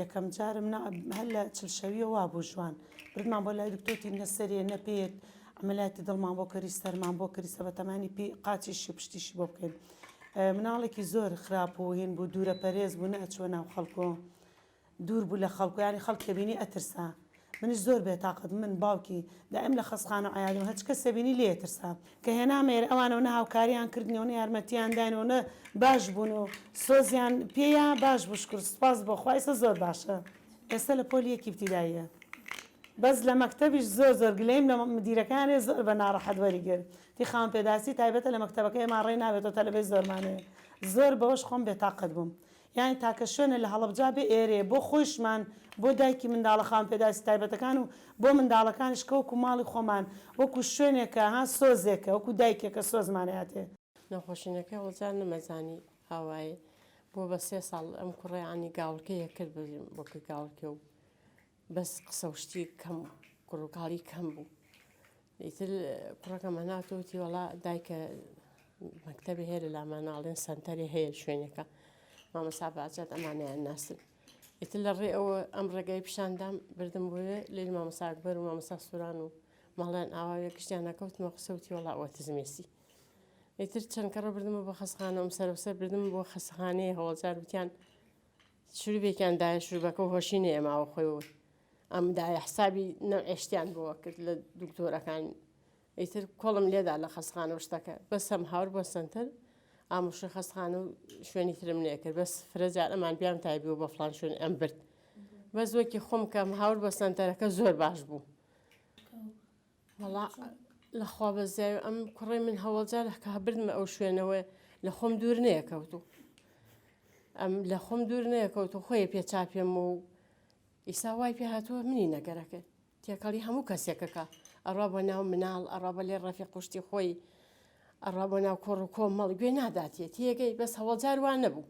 یەکەم جارم نا هەر لە چل شەویە وا بوو ژوان بردمان بۆ لای دکتۆتی نەسەرێ نەپێت ئەمەلاتی دڵمان بۆ کەری سەرمان بۆ کەری سە بە تەمانی پێی قاچیشی پشتیشی بۆ بکەین مناڵێکی زۆر خراپ و هین بوو دوورە پەرێز بوو نەچوە ناو خەڵکۆ دوور بوو لە خەڵک و یانی خەڵک کە بینی ئەترسا منیش زۆر بێتاقەت من باوکی دایم لە خەسخانە و عەیادی و هەچ کەسێ بینی لێ ئەترسا کە هێنامە ئێرە ئەوان و نە هاوکاریان کردنی و نە یارمەتیان داین و نە باش بوون و سۆزیان پێیا باش بوو شکور سوپاس بۆ خوا ئێستا زۆر باشە ئێستا لە پۆلی یەکی ابتدائیە بەس لە مەکتەبیش زۆر زۆر گلەیم لە مدیرەکانێ زۆر بە ناڕەحەت وەری گر تی خاوەن پێداسی تایبەتە لە مەکتەبەکە ئێمە ڕێ ناوێتەوە تەلەبەی زۆرمانێ زۆر بەوەش خۆم بێتاقەت بووم یانی تاکە شوێنە لە هەڵەبجا بێ ئێرەیە بۆ خۆیشمان بۆ دایکی منداڵە خاوەن پێداویستە تایبەتەکان و بۆ منداڵەکانیش کە وەکو ماڵی خۆمان وەکو شوێنێکە ها سۆزێکە وەکو دایکێکە سۆزمان ئەیاتێ. نەخۆشینەکەی هەڵەبجا نەمەزانی ئاوایێ بۆ بە سێ ساڵ ئەم کوڕە یانی گاوڵکەی ئەکرد بە بۆکەی گاوڵکێ و بەس قسە و شتی کەم و کوڕ و کاڵی کەم بوو ئیتر کوڕەکەم هەناردە و وتی وەڵا دایکە مەکتەبێ هەیە لە لامان ناڵێن سەنتەرێ هەیە شوێنەکە مامەسا باجات ئەمانیان ناسن ئیتر لە ڕێ ئەوە ئەم ڕێگای پیشاندام بردم بۆێ لێل مامەسا ئەکبەر و مامەسا سوران و ماڵیان ئاواوێ گشتیان نەکەوتمە قسە وتی وەڵا ئۆتزمێسی ئیتر چەند کەڕە بردمە بۆ خەسخانەم سەرەسەر بردم بۆ خەسخانەیە هەوڵجار وتیان شروبێکیان دایە شروبەکەو هۆشی نەیەماوە خۆی و ئەم دایە حسابی نەعشتیان بۆوە کرد لە دکتۆرەکان ئیتر کۆڵم لێدا لە خەسخانە و شتەکە بەسم هاور بۆ سنتەر ئاموشە خەسخانە و شوێنی ترم نێکرد بەس فرەجار ئەمان بیان تایبی و بە فلان شوێن ئەم برد بەس وەکی خۆم کەم هاور بە سنتەرەکە زۆر باش بوو وەڵا لەخوا بەزیاوی ئەم کوڕی من هەوڵجار لەکە بردمە ئەو شوێنەوەی لە خۆم دوور نەیەکەوت و ئەم لە خۆم دوور نەیەکەوت و خۆی پێ چاپێم و ئیسا وای پێ هاتووە منی نەگەرەکەی تێکەڵی هەموو کەسێکەکە ئەڕا بە ناو مناڵ ئەڕا بە لێ ڕەفی قوشتی خۆی ئەڕا بە ناو کۆڕ و کۆ مەڵ گوێ ناداتێت تێگەی بەس هەوڵجار وان نەبوو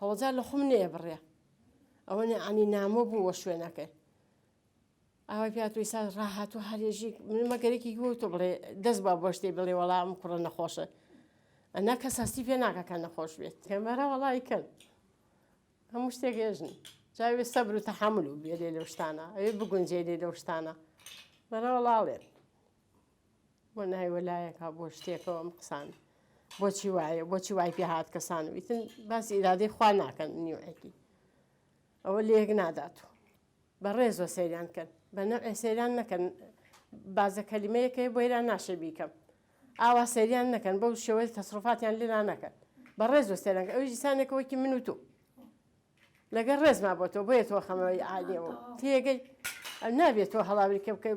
هەوڵجار لە خۆم نێ بڕێ ئەوە نەعانی نامۆ بووە شوێنەکەی ئاوای پێ هاتووە ئیستا ڕاهاتوو هەرێژیک من مەگەرێکی گووە تۆ بڵێ دەست با بۆ شتێ بڵێ وەڵا ئەم کوڕە نەخۆشە ئەنا کەس هەستی پێ ناکە کە نەخۆش بێت کەمەرا وەڵی کەن هەموو شتێک هێژن جاوێ سەبر و تەحمل و بێ لێ لەو شتانە ئەوێ بگونجێ لێ لەو شتانە بەرە وەڵاڵێن بۆ نای وەلایەکە بۆ شتێکەوە ئەم قسان بۆچی وایە بۆچی وای پێ هاات کەسان ویتن باسی ئیرادەی خوا ناکەن نیوەکی ئەوە لێک نادات و بە ڕێزۆ سەیران کەن بە نەوعێ سەیران نەکەن بازە کەلیمەیەک هەیە بۆ ئێران ناشێ بیکەم ئاوا سەیریان نەکەن بەو شێوەی تەسرفاتیان لێ لا نەکەن بە ڕێز و سەرەنگ ئەوی دیسانێکەوەکی من و تۆ لەگەر ڕێزما بۆ تۆ بۆیە تۆ خەمەوەی عالیەوە تێگەی نابێت تۆ هەڵاوری کە بکە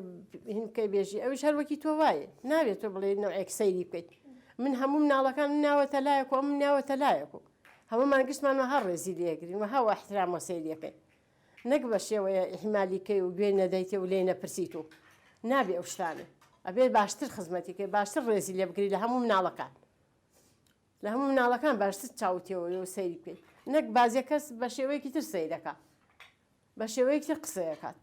هینکەی بێژی ئەوی شەروەکی تۆ وایە نابێت تۆ بڵێ نەوەیەک سەیری بکەیت من هەموو ناڵەکان ناوەتە لایەک و ئەم ناوەتە لایەک و هەمومان گشتمانەوە هەر ڕێزی لێگرین و هەوە احترام و سەیریەکەی نەک بە شێوەیە ئیهمالی کەی و گوێی نەدەیتێ و لێی نەپرسیت و نابێ ئەو شتانە ئەبێ باشتر خزمەتی کەی باشتر ڕێزی لێ بگری لە هەموو مناڵەکان لە هەموو مناڵەکان باشتر چاوتێەوەی و سەیری بکەیت نەک بازیە کەس بە شێوەیەکی تر سەیرەکە بە شێوەیەکی تر قسەیەکات